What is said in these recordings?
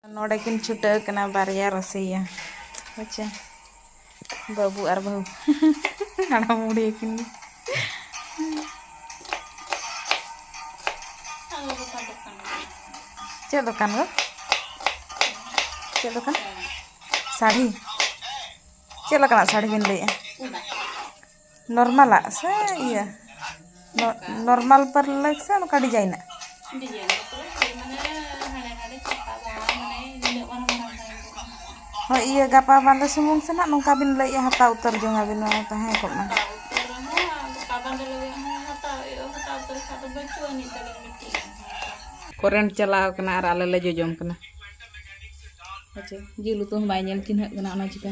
ᱱᱚᱰᱮ ᱠᱤᱱ ᱪᱷᱩᱴᱟᱹᱣ ᱠᱟᱱᱟ ᱵᱟᱨᱭᱟ ᱨᱟᱹᱥᱤᱭᱟ ᱦᱮᱸᱪᱮ ᱵᱟᱹᱵᱩ ᱟᱨ ᱵᱟᱹᱦᱩ ᱦᱟᱲᱟᱢ ᱵᱩᱲᱦᱤ ᱠᱤᱱ ᱪᱮᱫ ᱫᱚᱠᱟᱱ ᱜᱚ ᱪᱮᱫ ᱫᱚᱠᱟᱱ ᱥᱟᱹᱲᱤ ᱪᱮᱫ ᱞᱮᱠᱟᱱᱟᱜ ᱥᱟᱹᱲᱤ ᱵᱤᱱ ᱞᱟᱹᱭᱮᱜᱼᱟ ᱱᱚᱨᱢᱟᱞᱟᱜ ᱥᱮ ᱤᱭᱟᱹ ᱱᱚᱨᱢᱟᱞ ᱯᱟᱨ ᱞᱟᱹᱜᱤᱫ ᱥᱮ ᱱᱚᱝᱠᱟ ᱰᱤᱡᱟᱭᱤᱱᱟᱜ ᱦᱳᱭ ᱤᱭᱟᱹ ᱜᱟᱯᱟ ᱵᱟᱸᱫᱮ ᱥᱩᱢᱩᱝ ᱥᱮ ᱱᱟᱜ ᱱᱚᱝᱠᱟ ᱵᱤᱱ ᱞᱟᱹᱭᱮᱜᱼᱟ ᱦᱟᱛᱟᱣ ᱩᱛᱟᱹᱨ ᱡᱚᱝ ᱟᱹᱵᱤᱱ ᱱᱚᱣᱟ ᱛᱟᱦᱮᱸ ᱠᱚᱜ ᱢᱟ ᱠᱚᱨᱮᱱᱴ ᱪᱟᱞᱟᱣ ᱠᱟᱱᱟ ᱟᱨ ᱟᱞᱮ ᱞᱮ ᱡᱚᱡᱚᱢ ᱠᱟᱱᱟ ᱟᱪᱪᱷᱟ ᱡᱤᱞ ᱩᱛᱩ ᱦᱚᱸ ᱵᱟᱭ ᱧᱮᱞ ᱪᱤᱱᱦᱟᱹᱜ ᱠᱟᱱᱟ ᱚᱱᱟ ᱪᱤᱠᱟᱹ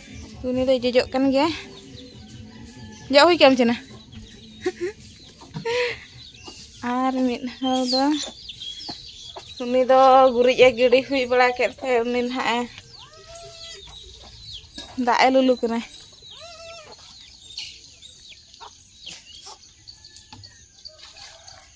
ᱩᱱᱤ ᱫᱚᱭ ᱡᱚᱡᱚᱜ ᱠᱟᱱ ᱜᱮᱭᱟ ᱡᱚᱜ ᱦᱩᱭ ᱠᱟᱢ ᱪᱮᱱᱟ ᱟᱨ ᱢᱤᱫ ᱦᱚᱲ ᱫᱚ ᱩᱱᱤ ᱫᱚ ᱜᱩᱨᱤᱡ ᱮ ᱜᱤᱰᱤ ᱦᱩᱭ ᱵᱟᱲᱟ ᱠᱮᱫ ᱛᱮ ᱩᱱᱤ ᱱᱟᱦᱟᱜ ᱮ ᱫᱟᱜ ᱮ ᱞᱩᱞᱩ ᱠᱟᱱᱟᱭ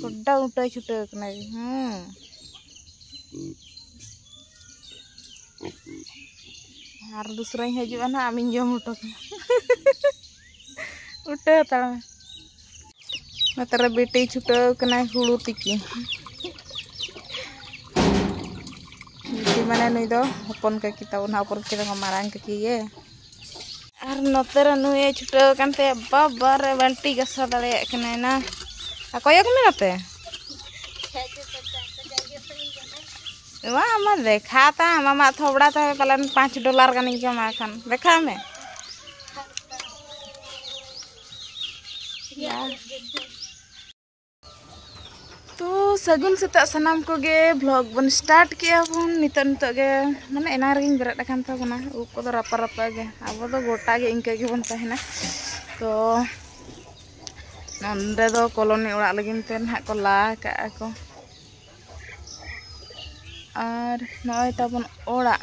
ᱵᱚᱰᱰᱚ ᱩᱴᱟᱹᱭ ᱪᱷᱩᱴᱟᱹᱣ ᱠᱟᱱᱟ ᱦᱩᱸ ᱟᱨ ᱫᱩᱥᱨᱟᱧ ᱦᱤᱡᱩᱜᱼᱟ ᱱᱟᱜ ᱟᱢᱤᱧ ᱡᱚᱢ ᱦᱚᱴᱚ ᱠᱟᱢᱟ ᱩᱴᱟᱹ ᱦᱟᱛᱟᱲ ᱢᱮ ᱱᱚᱛᱮᱨᱮ ᱵᱤᱴᱤ ᱪᱷᱩᱴᱟᱹᱣ ᱠᱟᱱᱟᱭ ᱦᱩᱲᱩ ᱛᱤᱠᱤ ᱵᱤᱴᱤ ᱢᱟᱱᱮ ᱱᱩᱭ ᱫᱚ ᱦᱚᱯᱚᱱ ᱠᱟᱹᱠᱤ ᱛᱟᱵᱚᱱ ᱦᱚᱯᱚᱱ ᱠᱟᱹᱠᱤ ᱫᱚ ᱢᱟᱨᱟᱝ ᱠᱟᱹᱠᱤ ᱜᱮ ᱟᱨ ᱱᱚᱛᱮ ᱨᱮ ᱱᱩᱭᱮ ᱪᱷᱩᱴᱟᱹᱣ ᱟᱠᱟᱱ ᱛᱮ ᱵᱟᱵᱟ ᱨᱮ ᱵᱟᱞᱴᱤ ᱜᱟᱥᱟᱣ ᱫᱟᱲᱮᱭᱟᱜ ᱠᱟᱱᱟᱭ ᱱᱟ ᱟᱨ ᱠᱚᱭᱚᱜ ᱢᱮ ᱱᱚᱛᱮ ᱵᱟᱝ ᱟᱢᱟ ᱫᱮᱠᱷᱟ ᱛᱟᱢ ᱟᱢᱟᱜ ᱛᱷᱚᱵᱲᱟ ᱛᱮ ᱯᱟᱞᱮᱱ ᱯᱟᱸᱪ ᱰᱚᱞᱟᱨ ᱜᱟᱱᱤᱧ ᱠᱟᱢᱟᱣ ᱠᱷᱟᱱ ᱫᱮᱠᱷᱟᱣ ᱢᱮ ᱛᱚ ᱥᱟᱹᱜᱩᱱ ᱥᱮᱛᱟᱜ ᱥᱟᱱᱟᱢ ᱠᱚᱜᱮ ᱵᱷᱞᱚᱜ ᱵᱚᱱ ᱥᱴᱟᱨᱴ ᱠᱮᱜᱼᱟ ᱵᱚᱱ ᱱᱤᱛᱚᱜ ᱱᱤᱛᱚᱜ ᱜᱮ ᱢᱟᱱᱮ ᱮᱱᱟᱝ ᱨᱮᱜᱮᱧ ᱵᱮᱨᱮᱫ ᱟᱠᱟᱱ ᱛᱟᱵᱚᱱᱟ ᱩᱵ ᱠᱚᱫᱚ ᱨᱟᱯᱟ ᱨᱟᱯᱟ ᱜᱮ ᱟᱵᱚ ᱫᱚ ᱜᱚᱴᱟ ᱜᱮ ᱤᱱᱠᱟᱹ ᱜᱮᱵᱚᱱ ᱛᱟᱦᱮᱱᱟ ᱛᱚ ᱱᱚᱸᱰᱮ ᱫᱚ ᱠᱚᱞᱚᱱᱤ ᱚᱲᱟᱜ ᱞᱟᱹᱜᱤᱫ ᱛᱮ ᱱᱟᱦᱟᱜ ᱠᱚ ᱞᱟ ᱠᱟᱜᱼᱟ ᱠᱚ ᱟᱨ ᱱᱚᱜᱼᱚᱭ ᱛᱟᱵᱚᱱ ᱚᱲᱟᱜ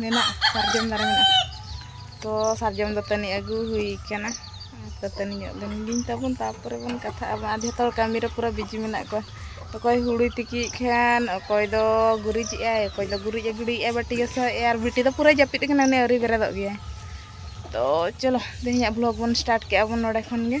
ᱢᱮᱱᱟᱜ ᱥᱟᱨᱡᱚᱢ ᱫᱟᱨᱮ ᱢᱮᱱᱟᱜ ᱛᱚ ᱥᱟᱨᱡᱚᱢ ᱫᱟᱹᱛᱟᱹᱱᱤ ᱟᱹᱜᱩ ᱦᱩᱭ ᱠᱟᱱᱟ ᱫᱟᱹᱛᱟᱹᱱᱤ ᱧᱚᱜ ᱞᱮᱱ ᱜᱤᱧ ᱛᱟᱵᱚᱱ ᱛᱟᱨᱯᱚᱨᱮ ᱵᱚᱱ ᱠᱟᱛᱷᱟᱜ ᱟᱵᱚᱱ ᱟᱨ ᱡᱚᱛᱚ ᱦᱚᱲ ᱠᱟᱹᱢᱤ ᱨᱮ ᱯᱩᱨᱟᱹ ᱵᱤᱡᱤ ᱢᱮᱱᱟᱜ ᱠᱚᱣᱟ ᱚᱠᱚᱭ ᱦᱩᱲᱩᱭ ᱛᱤᱠᱤᱭᱮᱫ ᱠᱷᱟᱱ ᱚᱠᱚᱭ ᱫᱚ ᱜᱩᱨᱤᱡ ᱮᱫ ᱟᱭ ᱚᱠᱚᱭ ᱫᱚ ᱜᱩᱨᱤᱡ ᱮ ᱜᱤᱰᱤᱭᱮᱫᱼᱟ ᱵᱟᱹᱴᱤ ᱜᱟᱥᱟᱣᱮᱫ ᱟᱭ ᱟᱨ ᱵᱤᱴᱤ ᱫᱚ ᱯᱩᱨᱟᱹᱭ ᱡᱟᱹᱯᱤᱫ ᱠᱟᱱᱟ ᱩᱱᱤ ᱟᱹᱣᱨᱤ ᱵᱮᱨᱮᱫᱚᱜ ᱜᱮᱭᱟᱭ ᱛᱚ ᱪᱚᱞᱚ ᱛᱮᱦᱮᱧᱟᱜ ᱵᱷᱞᱚᱜᱽ ᱵᱚᱱ ᱥᱴᱟᱨᱴ ᱠᱮᱫᱼᱟ ᱵᱚᱱ ᱱᱚᱰᱮ ᱠᱷᱚᱱ ᱜᱮ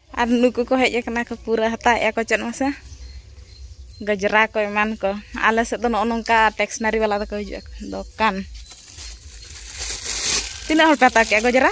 ᱟᱨ ᱱᱩᱠᱩ ᱠᱚ ᱦᱮᱡ ᱟᱠᱟᱱᱟ ᱠᱚ ᱯᱩᱨᱟᱹ ᱦᱟᱛᱟᱣᱮᱫᱼᱟ ᱠᱚ ᱪᱮᱫ ᱢᱟᱥᱮ ᱜᱟᱡᱽᱨᱟ ᱠᱚ ᱮᱢᱟᱱ ᱠᱚ ᱟᱞᱮ ᱥᱮᱫ ᱫᱚ ᱱᱚᱜᱼᱚ ᱱᱚᱝᱠᱟ ᱴᱮᱠᱥᱱᱟᱨᱤ ᱵᱟᱞᱟ ᱫᱚᱠᱚ ᱦᱤᱡᱩᱜ ᱟᱠᱚ ᱫᱚᱠᱟᱱ ᱛᱤᱱᱟᱹᱜ ᱦᱚᱲ ᱯᱮ ᱦᱟᱛᱟᱣ ᱠᱮᱫᱼᱟ ᱜᱟᱡᱽᱨᱟ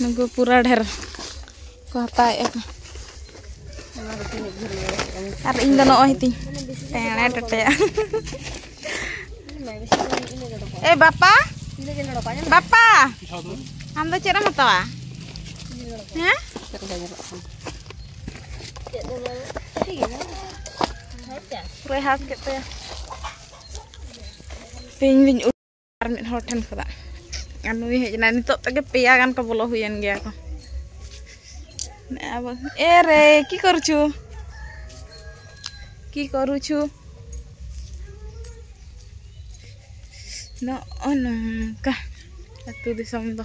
ᱱᱩᱠᱩ ᱯᱩᱨᱟ ᱰᱷᱮᱨ ᱠᱚ ᱦᱟᱛᱟᱣᱮᱫᱼᱟ ᱠᱚ ᱟᱨ ᱤᱧ ᱫᱚ ᱱᱚᱜᱼᱚᱭ ᱛᱤᱧ ᱴᱮᱬᱮ ᱴᱮᱴᱮᱭᱟ ᱮ ᱵᱟᱯᱟ ᱵᱟᱯᱟ ᱟᱢ ᱫᱚ ᱪᱮᱫ ᱮᱢ ᱦᱟᱛᱟᱣᱟ ᱦᱮᱸ ᱯᱩᱨᱟᱹᱭ ᱦᱟᱥ ᱠᱮᱫ ᱛᱟᱭᱟ ᱛᱮᱦᱮᱧ ᱞᱤᱧ ᱟᱨ ᱢᱤᱫ ᱦᱚᱲ ᱴᱷᱮᱱ ᱠᱷᱚᱱᱟᱜ ᱟᱨ ᱱᱩᱭ ᱦᱮᱡ ᱮᱱᱟᱭ ᱱᱤᱛᱚᱜ ᱛᱮᱜᱮ ᱯᱮᱭᱟ ᱜᱟᱱ ᱠᱚ ᱵᱚᱞᱚ ᱦᱩᱭᱮᱱ ᱜᱮᱭᱟ ᱠᱚ ᱟᱵᱚ ᱮ ᱨᱮ ᱠᱤ ᱠᱚᱨᱩᱪᱷᱩ ᱠᱤ ᱠᱚᱨᱩᱪᱷᱩ ᱱᱚᱜᱼᱚ ᱱᱚᱝᱠᱟ ᱟᱹᱛᱩ ᱫᱤᱥᱚᱢ ᱫᱚ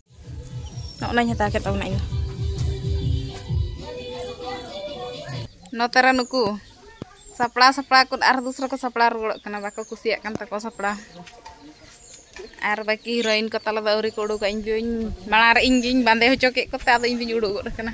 ᱱᱚᱜᱼᱱᱟᱧ ᱦᱟᱛᱟᱣ ᱠᱮᱫ ᱛᱟᱵᱚᱱᱟ ᱤᱧ ᱱᱚᱛᱮ ᱨᱮ ᱱᱩᱠᱩ ᱥᱟᱯᱲᱟᱣ ᱥᱟᱯᱲᱟᱣ ᱠᱚ ᱟᱨ ᱫᱩᱥᱨᱟ ᱠᱚ ᱥᱟᱯᱲᱟᱣ ᱨᱩᱣᱟᱹᱲᱚᱜ ᱠᱟᱱᱟ ᱵᱟᱠᱚ ᱠᱩᱥᱤᱭᱟᱜ ᱠᱟᱱ ᱛᱟᱠᱚ ᱥᱟᱯᱲᱟᱣ ᱟᱨ ᱵᱟᱹᱠᱤ ᱦᱤᱨᱳᱭᱤᱱ ᱠᱚ ᱛᱟᱞᱮ ᱫᱚ ᱟᱹᱣᱨᱤ ᱠᱚ ᱩᱰᱩᱠᱟ ᱤᱧ ᱫᱚᱧ ᱢᱟᱲᱟᱝ ᱨᱮ ᱤᱧ ᱜᱤᱧ ᱵᱟᱸᱫᱮ ᱦᱚᱪᱚ ᱠᱮᱫ ᱠᱚᱛᱮ ᱟᱫᱚ ᱤᱧ ᱫᱚᱧ ᱩᱰᱩᱠ ᱜᱚᱫ ᱟᱠᱟᱱᱟ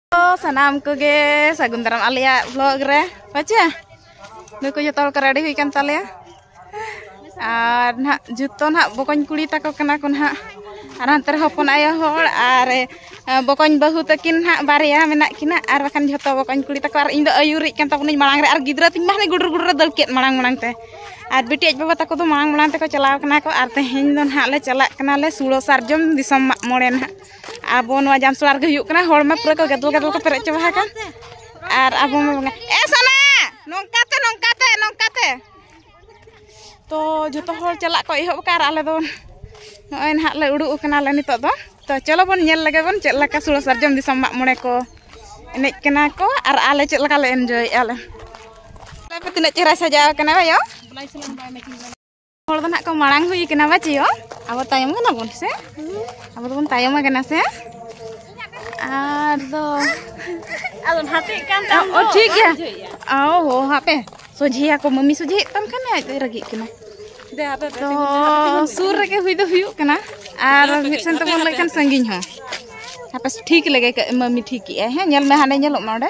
ᱥᱟᱱᱟᱢ ᱠᱚᱜᱮ ᱥᱟᱹᱜᱩᱱ ᱫᱟᱨᱟᱢ ᱟᱞᱮᱭᱟᱜ ᱵᱞᱚᱜ ᱨᱮ ᱵᱟᱪᱮ ᱱᱩᱠᱩ ᱡᱚᱛᱚ ᱦᱚᱲ ᱠᱚ ᱨᱮᱰᱤ ᱦᱩᱭ ᱠᱟᱱ ᱛᱟᱞᱮᱭᱟ ᱟᱨ ᱱᱟᱦᱟᱜ ᱡᱚᱛᱚ ᱱᱟᱦᱟᱜ ᱵᱚᱠᱚᱧ ᱠᱩᱲᱤ ᱛᱟᱠᱚ ᱠᱟᱱᱟ ᱠᱚ ᱱᱟᱦᱟᱜ ᱟᱨ ᱦᱟᱱᱛᱮ ᱨᱮ ᱦᱚᱯᱚᱱ ᱟᱭᱳ ᱦᱚᱲ ᱟᱨ ᱵᱚᱠᱚᱧ ᱵᱟᱹᱦᱩ ᱛᱟᱹᱠᱤᱱ ᱱᱟᱦᱟᱜ ᱵᱟᱨᱭᱟ ᱢᱮᱱᱟᱜ ᱠᱤᱱᱟ ᱟᱨ ᱵᱟᱠᱷᱟᱱ ᱡᱚᱛᱚ ᱵᱚᱠᱚᱧ ᱠᱩᱲᱤ ᱛᱟᱠᱚ ᱟᱨ ᱤᱧ ᱫᱚ ᱟᱹᱭᱩᱨᱤᱡ ᱠᱟᱱ ᱛᱟᱵᱚᱱᱟᱹᱧ ᱢᱟᱲᱟᱝ ᱨᱮ ᱟᱨ ᱜᱤᱫᱽᱨᱟᱹ ᱛᱤᱧ ᱢᱟ ᱦᱟᱱᱮ ᱜᱩᱰᱩᱨ ᱜᱩᱰᱩᱨ ᱨᱮ ᱫᱟᱹᱲ ᱠᱮᱫ ᱢᱟᱲᱟᱝ ᱢᱟᱲᱟᱝ ᱛᱮ ᱟᱨ ᱵᱤᱴᱤ ᱟᱡ ᱵᱟᱵᱟ ᱛᱟᱠᱚ ᱫᱚ ᱢᱟᱲᱟᱝ ᱢᱟᱲᱟᱝ ᱛᱮᱠᱚ ᱪᱟᱞᱟᱣ ᱠᱟᱱᱟ ᱠᱚ ᱟᱨ ᱛᱮᱦᱮᱧ ᱫᱚ ᱱᱟᱦᱟᱜ ᱞᱮ ᱪᱟᱞᱟᱜ ᱠᱟᱱᱟᱞᱮ ᱥᱩᱲᱟᱹ ᱥᱟᱨᱡᱚᱢ ᱫᱤᱥᱚᱢ ᱢᱟᱜ ᱢᱚᱬᱮ ᱱᱟᱦᱟᱜ ᱟᱵᱚ ᱱᱚᱣᱟ ᱡᱟᱢᱥᱚᱲᱟ ᱨᱮᱜᱮ ᱦᱩᱭᱩᱜ ᱠᱟᱱᱟ ᱦᱚᱲ ᱢᱟ ᱯᱩᱨᱟᱹ ᱠᱚ ᱜᱟᱫᱚᱞ ᱜᱟᱫᱚᱞ ᱠᱚ ᱯᱮᱨᱮᱡ ᱪᱟᱵᱟ ᱟᱠᱟᱱ ᱟᱨ ᱟᱵᱚ ᱢᱟ ᱵᱚᱸᱜᱟ ᱮ ᱥᱟᱱᱟ ᱱᱚᱝᱠᱟᱛᱮ ᱱᱚᱝᱠᱟᱛᱮ ᱱᱚᱝᱠᱟᱛᱮ ᱛᱚ ᱡᱚᱛᱚ ᱦᱚᱲ ᱪᱟᱞᱟᱜ ᱠᱚ ᱮᱦᱚᱵ ᱟᱠᱟᱫ ᱟᱨ ᱟᱞᱮ ᱫᱚ ᱱᱚᱜᱼᱚᱭ ᱱᱟᱦᱟᱜ ᱞᱮ ᱩᱰᱩᱠ ᱟᱠᱟᱱᱟᱞᱮ ᱱᱤᱛᱚᱜ ᱫᱚ ᱛᱚ ᱪᱚᱞᱚ ᱵᱚᱱ ᱧᱮᱞ ᱞᱮᱜᱮ ᱵᱚᱱ ᱪᱮᱫ ᱞᱮᱠᱟ ᱥᱩᱲᱟᱹ ᱥᱟᱨᱡᱚᱢ ᱫᱤᱥᱚᱢ ᱢᱟᱜ ᱢᱚᱬᱮ ᱠᱚ ᱮᱱᱮᱡ ᱠᱟᱱᱟ ᱠᱚ ᱟᱨ ᱟᱞᱮ ᱪᱮᱫ ᱞᱮᱠᱟ ᱞᱮ ᱮᱱᱡᱚᱭᱮᱫᱼᱟ ᱞᱮ ᱛᱤᱱᱟᱹᱜ ᱪᱮᱦᱨᱟᱭ ᱥᱟᱡᱟᱣ ᱠᱟᱱᱟ ᱵᱟᱭᱳ ᱦᱚᱲ ᱫᱚ ᱱᱟᱜ ᱠᱚ ᱢᱟᱲᱟᱝ ᱦᱩᱭ ᱠᱟᱱᱟ ᱵᱟᱪᱤᱭᱚ ᱟᱵᱚ ᱛᱟᱭᱚᱢ ᱠᱟᱱᱟ ᱵᱚᱱ ᱥᱮ ᱟᱵᱚ ᱫᱚᱵᱚᱱ ᱛᱟᱭᱚᱢ ᱠᱟᱱᱟ ᱥᱮ ᱟᱨ ᱫᱚ ᱟᱫᱚ ᱦᱟᱛᱮᱜ ᱠᱟᱱ ᱛᱟᱢ ᱚ ᱴᱷᱤᱠ ᱜᱮᱭᱟ ᱚ ᱦᱚ ᱦᱟᱯᱮ ᱥᱚᱡᱷᱮᱭᱟ ᱠᱚ ᱢᱟᱢᱤ ᱥᱚᱡᱷᱮ ᱛᱟᱢ ᱠᱷᱟᱱ ᱟᱡ ᱫᱚ ᱨᱟᱹᱜᱤᱜ ᱠᱟᱱᱟ ᱛᱚ ᱥᱩᱨ ᱨᱮᱜᱮ ᱦᱩᱭ ᱫᱚ ᱦᱩᱭᱩᱜ ᱠᱟᱱᱟ ᱟᱨ ᱢᱤᱫ ᱥᱮᱱ ᱛᱮᱵᱚᱱ ᱞᱟᱹᱭ ᱠᱷᱟᱱ ᱥᱟᱺᱜᱤᱧ ᱦᱚᱸ ᱦᱟᱯᱮ ᱴᱷᱤᱠ ᱞᱮᱜᱮ ᱢᱟᱢᱤ ᱴᱷᱤᱠᱮᱜᱼᱟᱭ ᱦᱮᱸ ᱧᱮᱞ ᱢᱮ ᱦᱟᱸᱰᱮ ᱧᱮᱞᱚᱜ ᱢᱟ ᱚᱸᱰᱮ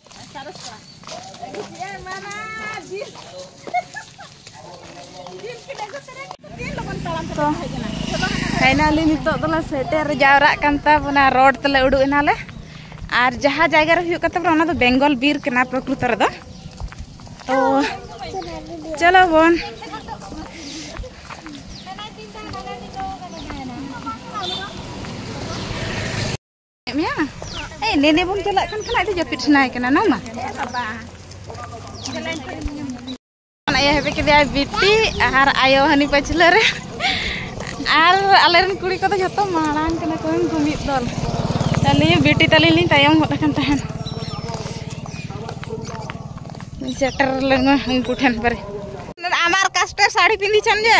ᱛᱚ ᱯᱷᱟᱭᱱᱟᱞᱤ ᱱᱤᱛᱚᱜ ᱫᱚᱞᱮ ᱥᱮᱴᱮᱨ ᱡᱟᱣᱨᱟᱜ ᱠᱟᱱ ᱛᱟᱵᱚᱱᱟ ᱨᱳᱰ ᱛᱮᱞᱮ ᱩᱰᱩᱠ ᱮᱱᱟᱞᱮ ᱟᱨ ᱡᱟᱦᱟᱸ ᱡᱟᱭᱜᱟ ᱨᱮ ᱦᱩᱭᱩᱜ ᱠᱟᱱ ᱛᱟᱵᱚᱱᱟ ᱚᱱᱟ ᱫᱚ ᱵᱮᱝᱜᱚᱞ ᱵᱤᱨ ᱠᱟᱱᱟ ᱯᱨᱚᱠᱨᱤᱛᱚ ᱨᱮᱫᱚ ᱛᱚ ᱪᱚᱞᱚ ᱵᱚᱱ ᱢᱮᱭᱟ ᱮ ᱱᱮᱱᱮ ᱵᱚᱱ ᱪᱟᱞᱟᱜ ᱠᱟᱱ ᱠᱷᱟᱱ ᱟᱹᱰᱤ ᱡᱟᱹᱯᱤᱫ ᱥᱟᱱᱟᱭ ᱠᱟᱱᱟ ᱱᱟ ᱢᱟ ᱟᱭᱳ ᱦᱮᱵᱮ ᱠᱮᱫᱮᱭᱟ ᱵᱤᱴᱤ ᱟᱨ ᱟᱭᱳ ᱦᱟᱹᱱᱤ ᱯᱟᱹᱪᱷᱞᱟᱹ ᱨᱮ ᱟᱨ ᱟᱞᱮᱨᱮᱱ ᱠᱩᱲᱤ ᱠᱚᱫᱚ ᱡᱚᱛᱚ ᱢᱟᱲᱟᱝ ᱠᱟᱱᱟ ᱠᱚ ᱩᱱᱠᱩ ᱢᱤᱫ ᱫᱚᱞ ᱟᱹᱞᱤᱧ ᱵᱤᱴᱤ ᱛᱟᱹᱞᱤᱧ ᱞᱤᱧ ᱛᱟᱭᱚᱢ ᱜᱚᱫ ᱟᱠᱟᱱ ᱛᱟᱦᱮᱱ ᱥᱮᱴᱮᱨ ᱞᱮᱱᱟ ᱩᱱᱠᱩ ᱴᱷᱮᱱ ᱯᱟᱨᱮ ᱟᱢᱟᱨ ᱠᱟᱥᱴᱮ ᱥᱟᱹᱲᱤ ᱯᱤᱸᱫᱤ ᱪᱟᱱ ᱡᱮ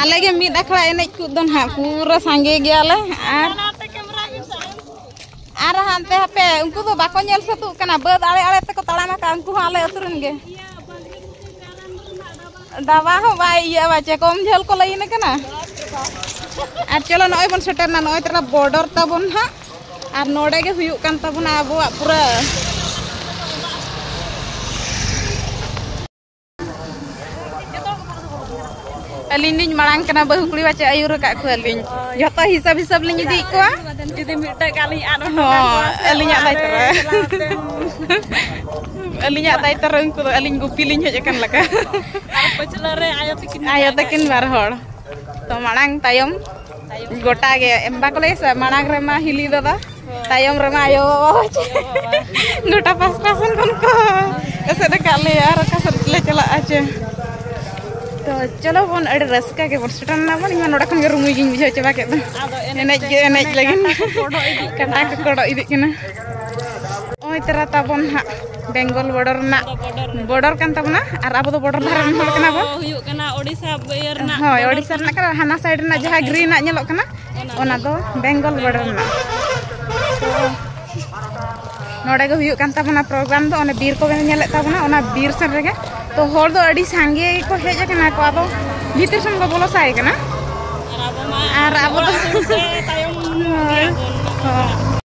ᱟᱞᱮ ᱜᱮ ᱢᱤᱫ ᱟᱠᱷᱲᱟ ᱮᱱᱮᱡ ᱠᱚ ᱫᱚ ᱱᱟᱦᱟᱜ ᱯᱩᱨᱟᱹ ᱥᱟᱸᱜᱮ ᱜᱮᱭᱟᱞᱮ ᱟᱨ ᱟᱨ ᱦᱟᱱᱛᱮ ᱦᱟᱯᱮ ᱩᱱᱠᱩ ᱫᱚ ᱵᱟᱠᱚ ᱧᱮᱞ ᱥᱟᱹᱛᱩᱜ ᱠᱟᱱᱟ ᱵᱟᱹᱫ ᱟᱲᱮ ᱟᱲᱮ ᱛᱮᱠᱚ ᱛᱟᱲᱟᱢ ᱟᱠᱟᱫ ᱩᱱᱠᱩ ᱦᱚᱸ ᱟᱞᱮ ᱟᱹᱛᱩ ᱨᱮᱱ ᱜᱮ ᱰᱟᱵᱟ ᱦᱚᱸ ᱵᱟᱭ ᱤᱭᱟᱹ ᱵᱟᱪᱮ ᱠᱚᱢ ᱡᱷᱟᱹᱞ ᱠᱚ ᱞᱟᱹᱭᱤᱱ ᱠᱟᱱᱟ ᱟᱨ ᱪᱚᱞᱚ ᱱᱚᱜᱼᱚᱭ ᱵᱚᱱ ᱥᱮᱴᱮᱨᱱᱟ ᱱᱚᱜᱼᱚᱭ ᱛᱟᱨᱟ ᱵᱚᱨᱰᱚᱨ ᱛᱟᱵᱚᱱ ᱦᱟᱸᱜ ᱟᱨ ᱱᱚᱰᱮ ᱜᱮ ᱦᱩᱭᱩᱜ ᱠᱟᱱ ᱛᱟᱵᱚᱱᱟ ᱟᱵᱚᱣᱟᱜ ᱯᱩᱨᱟᱹ ᱟᱹᱞᱤᱧ ᱞᱤᱧ ᱢᱟᱲᱟᱝ ᱠᱟᱱᱟ ᱵᱟᱹᱦᱩ ᱠᱩᱲᱤ ᱵᱟᱪᱮ ᱟᱹᱭᱩᱨ ᱟᱠᱟᱫ ᱠᱚᱣᱟᱞᱤᱧ ᱡᱚᱛᱚ ᱦᱤᱥᱟᱹᱵ ᱦᱤᱥᱟᱹᱵ ᱞᱤᱧ ᱤᱫᱤᱭᱮᱫ ᱠᱚᱣᱟ ᱡᱩᱫᱤ ᱢᱤᱫᱴᱟᱝ ᱜᱮ ᱟᱹᱞᱤᱧ ᱟᱫ ᱦᱚᱸ ᱟᱹᱞᱤᱧᱟᱜ ᱫᱟᱭᱤᱛᱛᱚ ᱨᱮ ᱟᱹᱞᱤᱧᱟᱜ ᱫᱟᱭᱤᱛᱛᱚ ᱨᱮ ᱩᱱᱠᱩ ᱫᱚ ᱟᱹᱞᱤᱧ ᱜᱩᱯᱤ ᱞᱤᱧ ᱦᱮᱡ ᱟᱠᱟᱱ ᱞᱮᱠᱟ ᱟᱨ ᱯᱟᱹᱪᱷᱞᱟᱹ ᱨᱮ ᱟᱭᱳ ᱛᱟᱹᱠᱤᱱ ᱟᱭᱳ ᱛᱟᱹᱠᱤᱱ ᱵᱟᱨ ᱦᱚᱲ ᱛᱚ ᱢᱟᱲᱟᱝ ᱛᱟᱭᱚᱢ ᱜᱚᱴᱟ ᱜᱮ ᱮᱢ ᱵᱟᱠᱚ ᱞᱟᱹᱭ ᱥᱮ ᱢᱟᱲᱟᱝ ᱨᱮᱢᱟ ᱦᱤᱞᱤ ᱵᱟᱵᱟ ᱛᱟᱭᱚᱢ ᱨᱮᱢᱟ ᱟᱭᱳ ᱵᱟᱵᱟ ᱜᱚᱴᱟ ᱯᱟᱥᱴᱟ ᱥᱮᱱ ᱠᱷᱚᱱ ᱠᱚ ᱮᱥᱮᱫ ᱟᱠᱟᱫ ᱞᱮᱭᱟ ᱟᱨ ᱚᱠᱟ ᱥᱮᱫ ᱞᱮ ᱪᱟᱞᱟᱜᱼᱟ ᱪᱮ ᱛᱚ ᱪᱚᱞᱚ ᱵᱚᱱ ᱟᱹᱰᱤ ᱨᱟᱹᱥᱠᱟᱹ ᱜᱮ ᱵᱚᱱ ᱥᱮᱴᱮᱨ ᱮᱱᱟ ᱵᱚᱱ ᱤᱧᱢᱟ ᱱᱚᱰᱮ ᱠᱷᱚᱱ ᱜᱮ ᱨᱩᱢᱩᱭ ᱜᱤᱧ ᱵᱩᱡᱷᱟᱹᱣ ᱪᱟᱵᱟ ᱠᱮᱫ ᱫᱚ ᱮᱱᱮᱡ ᱜᱮ ᱮᱱᱮᱡ ᱞᱟᱹᱜᱤᱫ ᱠᱟᱴᱟ ᱠᱚ ᱠᱚᱰᱚᱜ ᱤᱫᱤᱜ ᱠᱟᱱᱟ ᱱᱚᱜᱼᱚᱭ ᱛᱟᱨᱟ ᱛᱟᱵᱚᱱ ᱦᱟᱸᱜ ᱵᱮᱝᱜᱚᱞ ᱵᱚᱰᱚᱨ ᱨᱮᱱᱟᱜ ᱵᱚᱰᱚᱨ ᱠᱟᱱ ᱛᱟᱵᱚᱱᱟ ᱟᱨ ᱟᱵᱚ ᱫᱚ ᱵᱚᱰᱚᱨ ᱫᱷᱟᱨᱮ ᱨᱮᱱ ᱦᱚᱲ ᱠᱟᱱᱟ ᱵᱚᱱ ᱦᱩᱭᱩᱜ ᱠᱟᱱᱟ ᱳᱰᱤᱥᱟ ᱤᱭᱟᱹ ᱨᱮᱱᱟᱜ ᱦᱳᱭ ᱳᱰᱤᱥᱟ ᱨᱮᱱᱟᱜ ᱠᱟᱱᱟ ᱦᱟᱱᱟ ᱥᱟᱭᱤᱰ ᱨᱮᱱᱟᱜ ᱡᱟᱦᱟᱸ ᱜᱨᱤᱱᱟᱜ ᱧᱮᱞᱚᱜ ᱠᱟᱱᱟ ᱚᱱᱟ ᱫᱚ ᱵᱮᱝᱜᱚᱞ ᱵᱚᱰᱚᱨ ᱨᱮᱱᱟᱜ ᱱᱚᱰᱮ ᱜᱮ ᱦᱩᱭᱩᱜ ᱠᱟᱱ ᱛᱟᱵᱚᱱᱟ ᱯᱨᱳᱜᱨᱟᱢ ᱫᱚ ᱚᱱᱮ ᱵᱤᱨ ᱠᱚ ᱵᱮᱱ ᱧᱮᱞᱮᱫ ᱛᱟᱵᱚᱱᱟ ᱚᱱᱟ ᱵᱤᱨ ᱥᱮᱱ ᱨᱮᱜᱮ ᱛᱚ ᱦᱚᱲ ᱫᱚ ᱟᱹᱰᱤ ᱥᱟᱸᱜᱮ ᱜᱮᱠᱚ ᱦᱮᱡ ᱟᱠᱟᱱᱟ ᱠᱚ ᱟᱫᱚ ᱵᱷᱤᱛᱤᱨ ᱥᱮᱱ ᱠᱚ ᱵᱚᱞᱚ ᱥᱟᱭ ᱠᱟᱱᱟ ᱟᱨ ᱟᱵᱚ ᱫᱚ ᱛᱟᱭᱚᱢ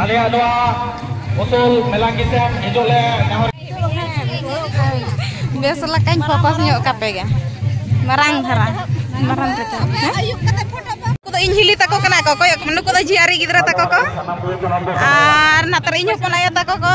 ᱟᱞᱮ ᱟᱞᱣᱟ ᱩᱥᱩᱞ ᱢᱮᱞᱟᱝᱜᱤ ᱥᱮᱱ ᱦᱤᱡᱩᱜ ᱞᱮ ᱱᱮᱦᱚᱨ ᱵᱮᱥ ᱞᱮᱠᱟᱧ ᱯᱷᱳᱠᱚᱥ ᱧᱚᱜ ᱠᱟᱯᱮ ᱜᱮ ᱢᱟᱨᱟᱝ ᱫᱷᱟᱨᱟ ᱢᱟᱨᱟᱝ ᱠᱟᱛᱮ ᱟᱭᱩᱵ ᱠᱟᱛᱮ ᱯᱷᱳᱴᱳ ᱠᱚᱫᱚ ᱤᱧ ᱦᱤᱞᱤ ᱛᱟᱠᱚ ᱠᱟᱱᱟ ᱠᱚ ᱠᱚᱭᱚᱜ ᱱᱩᱠᱩ ᱫᱚ ᱡᱤᱭᱟᱨᱤ ᱜᱤᱫᱽᱨᱟᱹ ᱛᱟᱠᱚ ᱠᱚ ᱟᱨ ᱱᱟᱛᱮ ᱤᱧ ᱦᱚᱯᱚᱱ ᱟᱭᱳ ᱛᱟᱠᱚ ᱠᱚ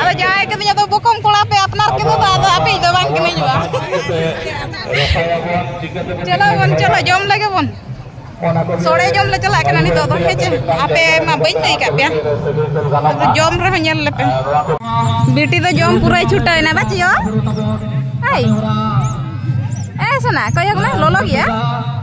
ᱟᱫᱚ ᱡᱟᱶᱟᱭ ᱠᱟᱹᱫᱤᱧ ᱟᱫᱚ ᱵᱚᱠᱚᱢ ᱠᱚᱲᱟ ᱯᱮ ᱟᱯᱱᱟᱨ ᱠᱮᱫᱟ ᱫᱚ ᱟᱫᱚ ᱟᱯᱮ ᱫᱚ ᱵᱟᱝ ᱠᱟᱹᱱᱟᱹᱧ ᱵᱟ ᱪᱚᱞᱚ ᱵᱚᱱ ᱪᱚᱞᱚ ᱡᱚᱢ ᱞᱮᱜᱮ ᱵᱚᱱ ᱥᱚᱲᱮ ᱡᱚᱢ ᱞᱮ ᱪᱟᱞᱟᱜ ᱠᱟᱱᱟ ᱱᱤᱛᱚᱜ ᱫᱚ ᱦᱮᱸ ᱪᱮ ᱟᱯᱮ ᱢᱟ ᱵᱟᱹᱧ ᱞᱟᱹᱭ ᱠᱟᱜ ᱯᱮᱭᱟ ᱡᱚᱢ ᱨᱮᱦᱚᱸ ᱧᱮᱞ ᱞᱮᱯᱮ ᱵᱤᱴᱤ ᱫᱚ ᱡᱚᱢ ᱯᱩᱨᱟᱹᱭ ᱪᱷᱩᱴᱟᱹᱣᱮᱱᱟ ᱵᱟ ᱪᱤᱭᱚ ᱟᱭ ᱮ ᱥᱚᱱᱟ ᱠᱚᱭᱚᱜ ᱢᱮ ᱞᱚᱞᱚ ᱜᱮᱭᱟ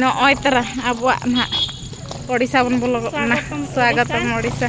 ᱱᱚᱜᱼᱚᱭ ᱛᱟᱨᱟ ᱟᱵᱚᱣᱟᱜ ᱱᱟᱦᱟᱜ ᱳᱰᱤᱥᱟ ᱵᱚᱱ ᱵᱚᱞᱚ ᱜᱚᱫ ᱮᱱᱟ ᱥᱣᱟᱜᱚᱛᱚᱢ ᱳᱰᱤᱥᱟ